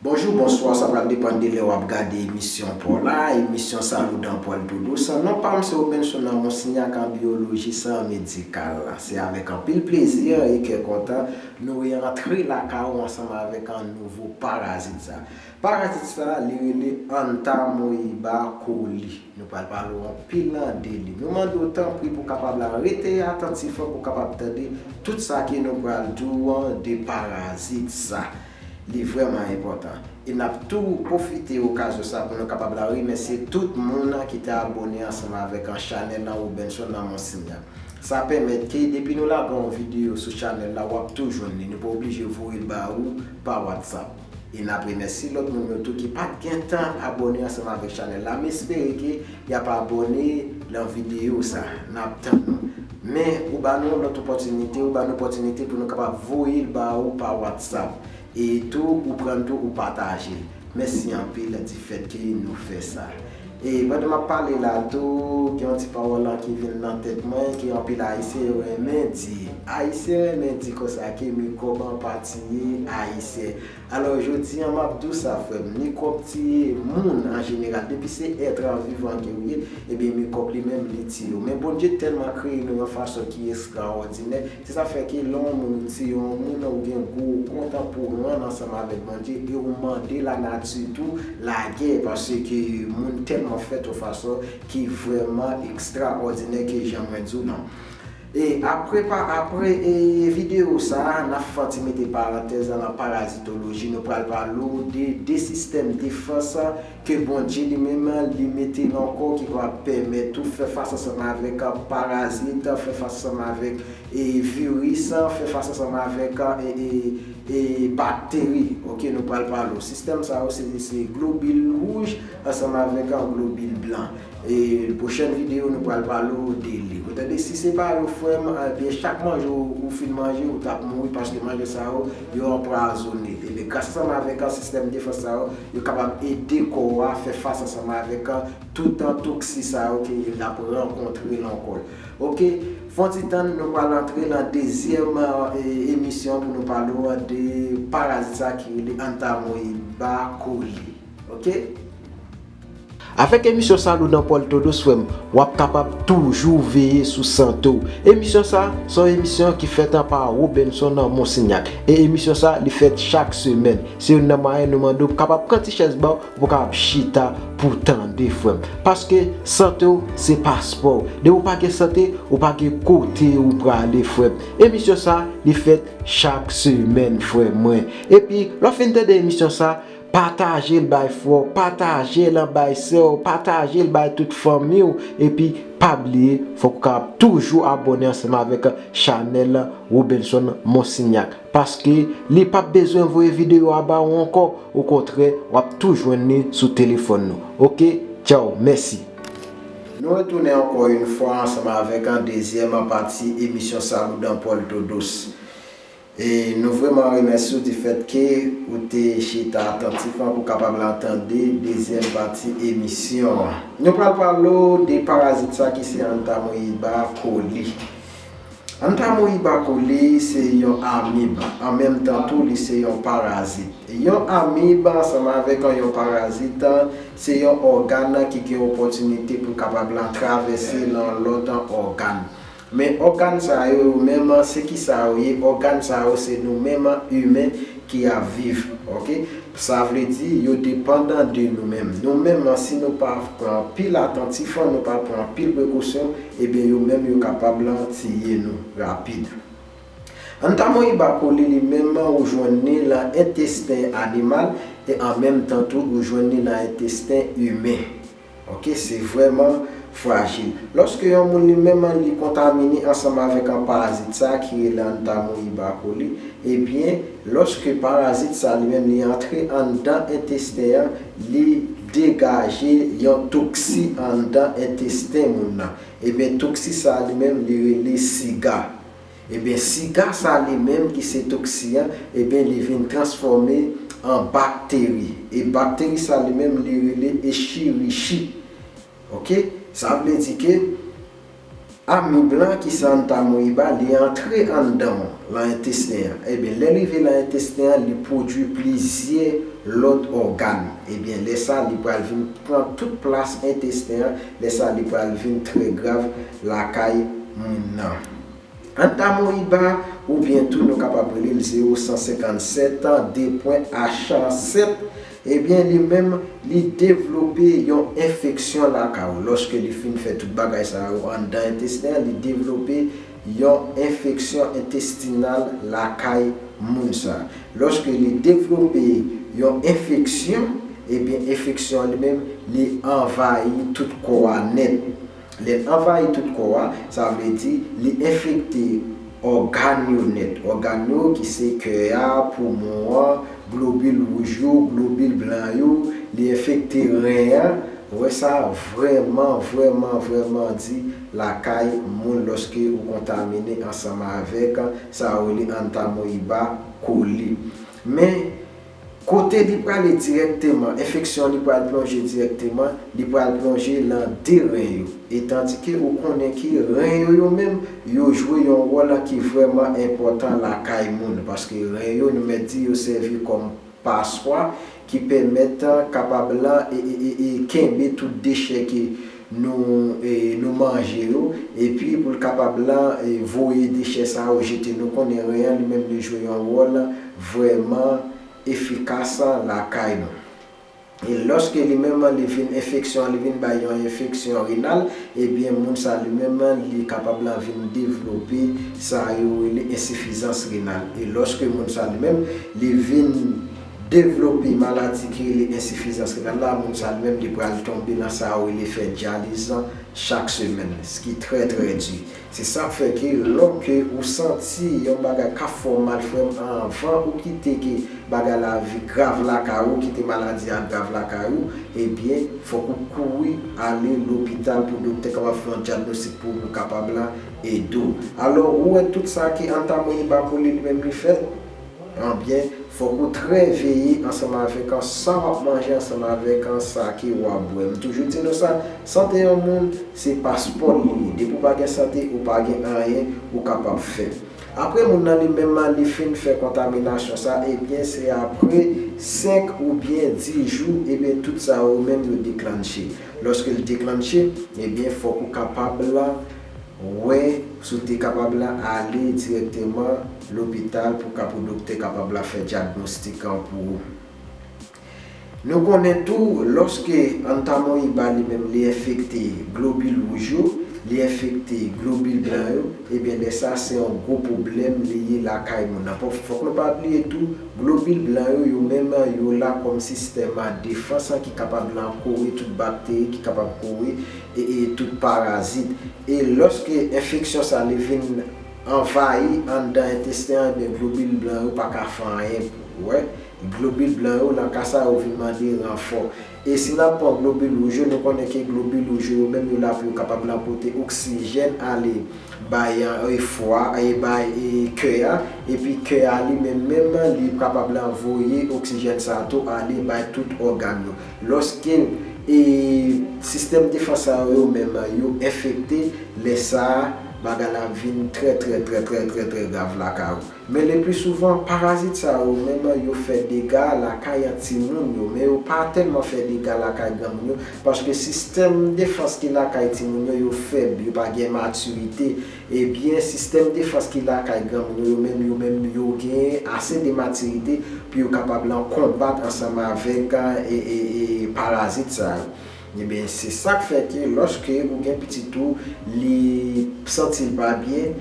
Bonjou, bonswa, sa pral depann de lè wap gade emisyon paw la, emisyon sa nou dan pwèl tou dous, non pam se Obenson nan Monsignac an biyoloji san medikal, se avèk anpil plezi e kè kontan nou re antre lakay ou ansanm avèk nouvo parazit sa. Paj atik sa a, li rele Antamoeba coli. Nou pral pale w anpil nan de li. Nou mande w tanpri pou w kapab la rete atantif pou w kapab tande tout sa ke nou pral di w an de parazit sa. Li vrèman enpòtan. E n ap tou pwofite okazyon sa pou nou kapab la remèsye tout moun ki te abone ansanm avèk an chanèl an Robenson nan Monsigna. Sa pèmèt ke depi nou lage yon videyo sou chanèl la w ap tou jwenn li. Nou pa oblije voye l ba ou pa WhatsApp. E nap remèsye lòt moun yo tou ki pat gen tan abòne ansanm avèk chanèl la, m espere ke yap abòne lan videyo sa, nap tann nou. Men ou ba nou yon lòt opòtinite, ou ba nou opòtinite pou nou kapab voye l ba ou pa whatsapp, e tou ou pran l tou ou pataje l. Mèsi anpil difèt ke nou fè sa. E pandan map pale la tou, gen yon ti pawòl an ki vin nan tèt mwen ke anpil ayisyen yo renmen di. Ayisyen renmen di konsa ke mikwòb an pa tiye ayisyen. Alò jodi an map di w sa frè m, mikwòb tiye moun an jeneral. Depi se èt an vivan ke ou ye, ebyen mikwòb li menm li tiye w. Men Bondye tèlman kreye nou yon fason ki estrawòdinè, Se sa fè ke lè yon moun se yon moun ou gen gou ou kontan pou rann ansanm avèk Bondye e ou mande la nati tou lagè paske moun tèlman fèt yon fason ki vrèman ekstra òdinè ke jan mwen di w lan. E apre pa apre e videyo sa na fanti mete parantèz la lan parazitoloji nou pral pale w de 2 sistèm defans Ke Bondye li menm li mete yon kò ki va pèmèt ou fè fas ansanm avèk parazit, fè fas ansanm avèk viris, fè fas ansanm avèk bakteri. Ok, nou pral pale w. Sistèm sa yo se globil wouj ansanm avèk globil blan. E prochèn video nou pral pale w de li ou tande si se pa yo frèm ebyen chak manje ou fin manje ou tap mouri paske manje sa yo yo anpwazone ebyen gras ansanm avèk sistèm defans sa yo yo kapab ede kò a fè fas ansanm avèk tout toksi sa yo ke li ap rankontre nan kò l ok fon ti tann nou pral antre nan dezyèm emisyon pou nou pale w de parazit sa ki rele antamoeba koli ok. Avèk emisyon sa nou nan pòl todos frèm wap kapab toujou veye sou sante w emisyon sa se yon emisyon ki fèt pa Robenson Monsignac e emisyon sa li fèt chak semèn se youn nan mwayen nou mande w kapab pran ti chèz ba w pou kapab chita pou tande frèm paske sante w se paspò w depi w pa gen sante ou pa gen kote ou prale frèm emisyon sa li fèt chak semèn frè mwen epi lè w fin tande emisyon sa. Patajel bay frè w, patajel an bay sè w, patajel bay tout fanmi w epi pa bliye fòk ou kapab toujou abòne ansanm avèk chanèl Robenson Monsignac paske li pap bezwen voye videyo a ba ou ankò okontrè wap tou jwenn li sou telefòn nou ok tchao mèsi. Nou retounen ankò yn fwa ansanm avèk dezyèm pati emisyon Saloudan Paul Todos. E nou vreman remèsye w di fèt ke ou te chita atantifman pou kapab la tande dezyèm pati emisyon an. Nou pral pale w de parazit sa ki se Antamoeba coli. Antamoeba coli se yon amib, an menm tan tou li se yon parazit. Yon amib ansanm avèk yon parazit se yon ògàn ki gen opòtinite pou kapab la travèse lan lòt ògàn. Men ògàn sa yo yo menm se kisa yo ye ògàn sa yo se nou menm imen ki ap viv ok sa vle di yo depandan de nou menm nou menm si nou pa pran anpil atantif nou pa pran anpil prekosyon ebyen yo menm yo kapab tiye nou rapid Antamoeba coli li menm ou jwenn li lan entesten animal e an menm tan tou ou jwenn li lan entesten imen. Ok, se vrèman frajil. Lòske yon moun li menm an li kontamine ansanm avèk an parazit sa ki rele Entamoeba coli, ebyen lòske parazit sa li menm li antre anndan entesten an, li degaje yon toksi anndan entesten moun nan. Ebyen toksi sa li menm li rele siga. Ebyen siga sa li menm ki se toksi an ebyen li vin transfòme an bakteri e bakteri sa li menm li rele echirichi ok sa vle di ke amib lan ki se antamoeba li antre anndan w lan entesten an ebyen lèl rive lan entesten an li pwodwi plizyè lòt ògàn ebyen lè sa li pral vin pran tout plas entesten an lè sa li pral vin trè grav lakay moun nan. Antamoiba ou byen tou nou kapab rele l 0157 an de pwen achan 7, ebyen li menm li devlope yon enfeksyon laka ou. Lòske li fin fè tout bagay sa yo anndan entesten an, li devlope yon enfeksyon entestinal lakay moun sa. Lòske li devlope yon enfeksyon, ebyen enfeksyon an li menm li anvayi tout kò a nèt. Lè l anvayi tout kò a, sa vle di li enfekte ògàn yo nèt. Ògàn yo ki se kè a, poumon an, globil wouj yo, globil blan yo, li enfekte ren an. Ou wè sa vrèman, vrèman, vrèman di lakay moun lòske ou kontamine ansanm avèk sa yo rele Antamoeba coli. Men. Kote li prale dirèkteman, enfeksyon li pral plonje dirèkteman, li pral plonje lan 2 ren yo. E tandike ou konnen ke ren yo yo menm, yo jwe yon wòl ki vrèman enpòtan lakay moun, paske ren yo nou mèt di yo sèvi kòm paswa ki pèmèt kapab lan kenbe tout dechè ke nou nou manje yo epi pou l kapab la voye dechè sa yo jete nou konnen ren an li menm li jwe yon wòl vrèman efikas lakay nou e lòske li menm li vin enfeksyon li vin bay yon enfeksyon renal ebyen moun sa li menm li kapab la vin devlope sa yo rele ensifizans renal e lòske moun sa li menm li vin Devlope maladi ki rele ensifizans renal la, moun sa li menm li pral tonbe nan sa yo rele fè dyaliz lan chak semèn, ski trè trè di. Se sak fè ke lò ke ou santi yon bagay kap fè w mal frè m anvan ou kite ke bagay la vi grav lakay ou, kite maladi a grav lakay ou, ebyen fòk ou kouri ale lopital pou doktè kapab fè yon dyagnostik pou ou pou kapab la ede w. Alò ou wè tout sa ke Antamoeba Coli li menm li fè? an byen, fòk ou trè veye ansanm avèk an sa w ap manje ansanm avèk an sa ke w ap bwè. M toujou di nou sa, sante yon moun se paspò li ye. Depi w pa gen sante, ou pa gen anyen ou kapab fè. Apre moun nan li menm an li fin fè kontaminasyon sa, e byen se apre 5 ou byen 10 jou, e byen tout sa yo menm yo deklannche. Lòske l deklannche, e byen fòk ou kapab Wè si w te kapab la ale dirèkteman lopital pou ka pou doktè kapab la fè dyagnostik an pou ou. Nou konnen tou lòske antamoyiba li menm li enfekte globil wouj yo, li enfekte globil blan yo, ebyen lè sa se yon gwo pwoblèm li ye lakay moun nan. Fòk nou pa bliye tou globil blan yo yo menm yo la kòm sistèm defans an ki kapab la kore tout bakteri ki kapab kore e e tout parazit e lòske enfeksyon sa li vin anvayi anndan entesten an ebyen globil blan yo pa ka fè anyen pou wè globil blan yo nan ka sa yo vin mande ranfò e si nap pran globil wouj yo nou konnen ke globil wouj yo yo menm yo la pou yo kapab nan pote oksijèn ale bay e fwa e bay e kè a epi kè a li menm menm li kapab nan voye oksijèn sa tou ale bay tout ògàn yo. Lòske e sistèm defans sa yo yo menm yo enfekte, lè sa a bagay la ap vin trè trè trè trè trè trè grav lakay ou. Men lepli souvan parazit sa yo yo menm yo fè dega lakay timoun yo men yo pa tèlman fè dega lakay granmoun yo paske sistèm defans ki lakay timoun yo yo fèb, yo pa gen matirite. E byen sistèm defans ki lakay gang nou yo menm yo menm yo gen ase de matirite pou yo kapab lan konbat ansanm avèk parazit sa yo. E byen se sak fè ke lòske ou gen pitit ou li santi l pa byen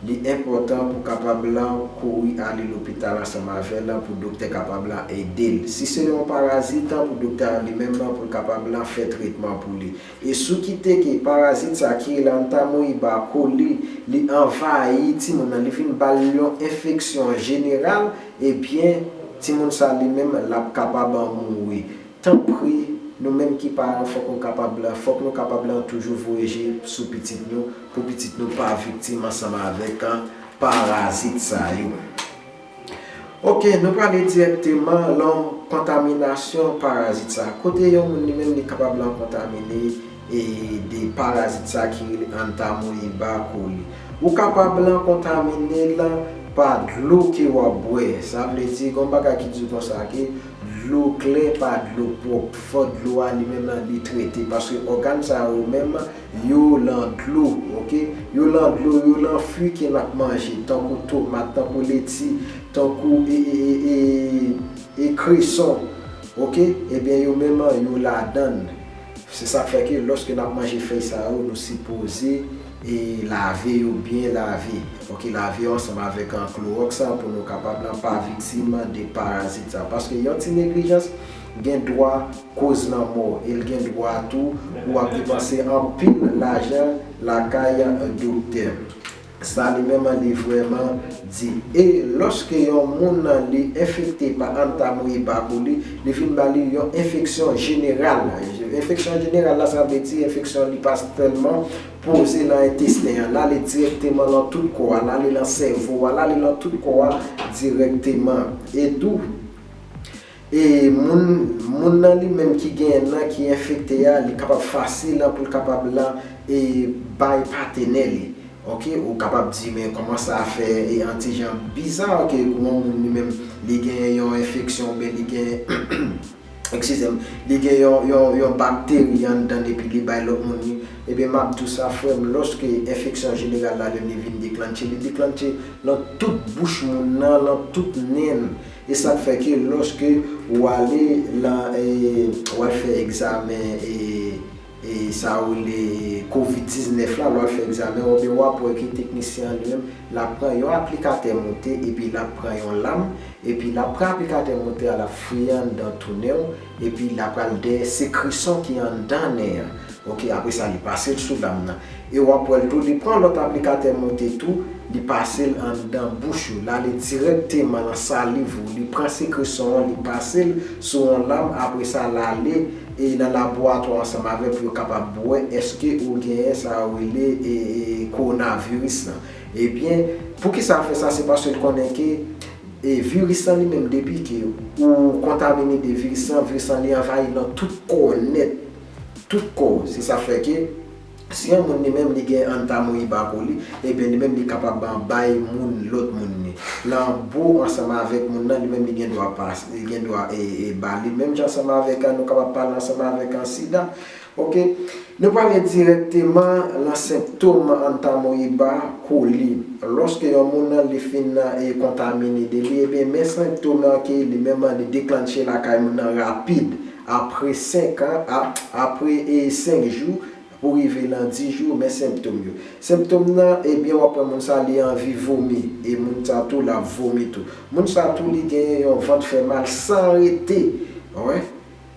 li enpòtan pou kapab lan kouri ale lopital ansanm avè l pou doktè kapab lan ede l. Si se yon parazit pou doktè an li menm pou l kapab lan fè tretman pou li. E sou ki teke parazit sa ki rele antamoeba coli li anvayi timoun nan li vin bal yon enfeksyon jeneral ebyen timoun sa li menm lap kapab mouri tanpri nou menm ki paran fòk nou kapab la fòk nou kapab lan toujou voye je sou pitit nou pou pitit nou pa viktim ansanm avèk parazit sa yo. Ok, nou prale dirèkteman lom kontaminasyon parazit sa. Kote yon moun li menm li kapab lan kontamine e de parazit sa ki rele Entamoeba coli. Ou kapab lan kontamine l pa dlo ke w ap bwè. Sa vle di gon bagay ki di konsa ke dlo klè pa dlo pwop. Fo dlo a li menm lan li trete paske ogan sa yo menm Yo lan dlo ok. Yo lan dlo yo lan fwi ke nap manje tankou tomat tankou leti tankou e e e e e kreson ok ebyen yo menm an yo ladann se sak fè ke loske nap manje fèy sa yo nou sipoze e lave yo byen lave ok lave yo ansanm avèk klorox pou nou kapab lan pa viktim de parazit sa paske yon ti neglijans gen dwa koz lanmò el gen dwa tou pou ap depanse anpil lajan lakay doktè sa li menm li vrèman di e loske yon moun li enfekte pa antamoeba coli li vin ba li yon enfeksyon jeneral enfeksyon jeneral la sa vle di enfeksyon li pa sèlman poze nan entesten an lale dirèkteman lan tout kò a lale lan sèvo a lale lan tout kò a dirèkteman e tou. E moun moun nan li menm ki genyen nan ki enfekte a li kapab fasil la poul kapab la e bay patenè li ok ou kapab di men kòman sa fè e antijan biza ok pou yon moun li menm li genyen yon enfeksyon oubyen li genyen ekskizem li gen yon yon yon bakteri anndann epi li bay lòt moun li ebyen map diw sa frèm lòske enfeksyon jeneral la lè li vin deklannche li deklannche lan tout bouch moun nan lan tout nenl E sak fè ke loske ou ale lan e wal fè egzamen e e sa yo rele covid 19 la lwal fè egzamen ou ebyen wap wè ke teknisyen an li menm lap pran yon aplikatè moute epi lap pran yon lam epi lap pran aplikatè moute a lap fouye anndan tounen w Epi la pral dèyè se krison ki anndan nen an ok apre sa li pasel sou lam nan e wap wèl tou li pran lòt aplikatè moute tou li pasel anndan bouch ou lale dirèkteman lan saliv ou li pran se krison an li pasel sou yon lam apre sa lale e lan laboratwa ansanm avè pou yo kapab wè eske ou genyen sa yo rele e e kowonaviris lan ebyen poukisa fè sa se paske l konnen ke E viris lan li menm depi ke ou kontamine de viris lan, viris lan li anvayi nan tout kò w nèt. Tout kò w. Se sa fè ke si yon moun li menm li gen antamoeba pou li, ebyen li menm li kapab an bay moun lòt moun li. Nan bo ansanm avèk moun nan, li menm li gen dwa pas, li gen dwa e e ba li. Menm jan ansanm avèk an nou kapab pale ansanm avèk an sida, Ok. Nou prale dirèkteman lan senptom Antamoeba coli. Lòske yon moun lan li fin e kontamine de li, ebyen men senptom lan ke li menm lan li deklannche lakay moun lan rapid apre 5 an, a, apre e 5 jou pou rive lan 10 jou, men senptom yo. Senptom lan, ebyen wap wè moun sa li anvi vomi, e moun sa tou lap vomi tou. Moun sa tou li genyen yon vant fè mal san rete. Wè?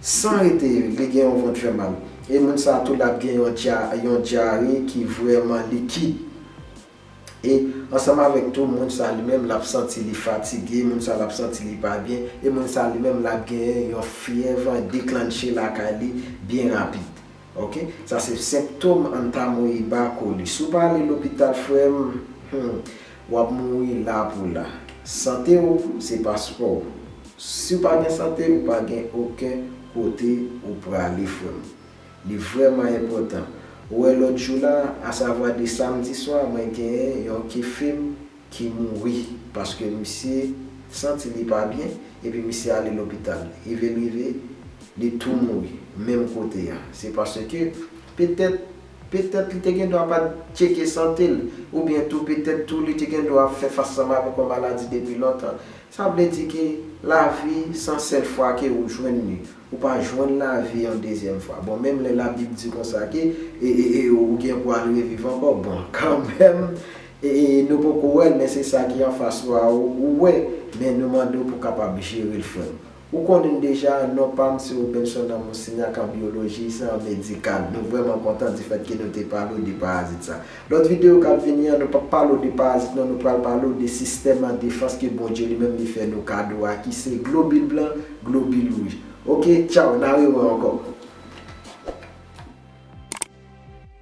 San rete, li gen yon vant fè mal. E moun sa a tou lap gen yon dya, yon dyare ki vrèman likid. E ansanm avèk tou, moun sa a li menm lap santi li fatige, moun sa a lap santi li pa byen, e moun sa a li menm lap genyen yon fyèv deklanche lakay li byen rapid. Ok sa se senptom antamoyiba koli si w pa ale lopital frè m humm wap mouri la pou la sante w se paspò w si w pa gen sante ou pa gen oken kote ou prale frè m li vrèman enpòtan ou wè lòt jou la asavwa de samdi swa mwen gen yon ki fim ki mouri paske misye santi li pa byen epi misye ale lopital rive l rive li tou mouri menm kote a se paske petèt petèt li te gendwa pat tcheke sante l oubyen tou petèt tou li te gendwa ap fè fas sam avèk yon maladi depi lontan sa vle di ke lavi san sèl fwa ke ou jwenn li ou pa jwenn lavi yon dezyèm fwa bon menm lè labib di konsa ke e e e ou gen pou al reviv ankò bon kanmèm Ee nou poko wèl men se sa ki anfas ou a ou wè men nou mande w pou kapab jerel frèm. Ou konnin deja non pam se Robenson Amour Signac an biologie se an medical nou vrèman kontan di fèt ke nou te pale w de parazit sa. Lòt video kap vini an nou pap pale w de parazit non nou pral pale w de sistèm an defans ke Bondye li menm li fè nou kado a ki se globule blan globule rouj ok tchao na rewè ankò.